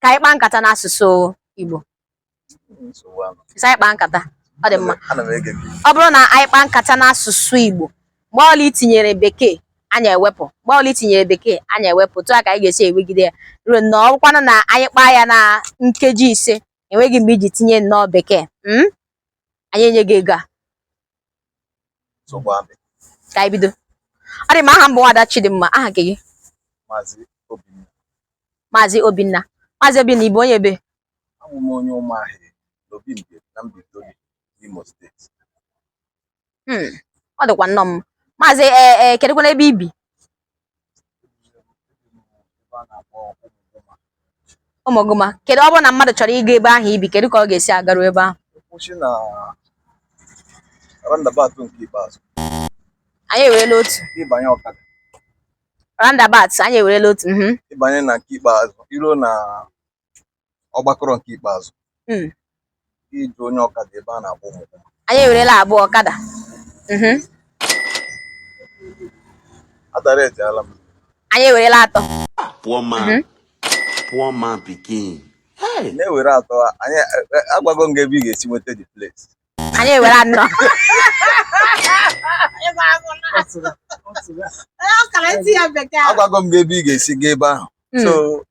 ka anyị kpaa nkata n'asụsụ Igbo sị anyị kpaa nkata ọ dị mma ọ bụrụ na anyị kpaa nkata n'asụsụ Igbo mgbe ọbụla i tinyere bekee anyị ewepụ mgbe ọbụla i tinyere bekee anyị ewepụ etu a ka anyị ga-esi ewegide ya ruo na ọ bụkwanụ na anyị kpaa ya na nkeji ise enweghị mgbe i ji tinye nnọọ bekee hmm? anyị enye gị ego a ka anyị bido ọ dị mma aha m bụ nwada Chidimma aha nke gị maazị Obinna maazị Obinna maazị Obinna ị bụ onye ebe abụ m onye Ụmụahịị n'Obi Mbieri na Mbaitoli n'Imo steeti Hmm, ọ dịkwa nnọọ mma maazị ee ee kedụkwanụ ebe i bi Ụmụgụma kedu ọ bụrụ na mmadụ chọrọ ịga ebe ahụ i bi kedu ka ọ ga-esi agaru ebe ahụ ị kwụsị na roundabout nke ikpeazụ anyị ewerela otu ị banye ọkada roundabout anyị ewerela otu mhm. ị banye na nke ikpeazụ i ruo na ọgbakọrọ nke ikpeazụ Mm. ị jụọ onye ọkada ebe a na-agba Ụmụgụma. anyị ewerela abụọ ọkada Mhm. adara ejeala m anyị ewerela atọ Poor man. Mhm. Poor man pikin. Hey. na-ewere atọ anyị e- e- agwago m gị ebe ị ga-esi nweta the place anyị ewere anọ agwago m gị ebe ị ga-esi gaa ebe ahụ Mm. so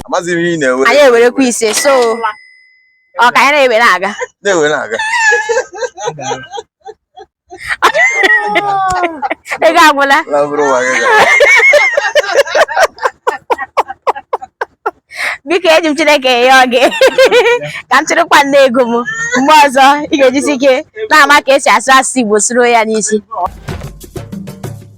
amaghịzi m ihe ị na-ewere anyị ewerekwa ise so ọ ka anyị na-ewere aga na-ewere aga ego agwụla biko eji m Chineke ayọ gị ka m chịrịkwanụ ego m mgbe ọzọ ị ga-ejisi ike na-ama ka esi asụ asụsụ Igbo sụruo ya n'isi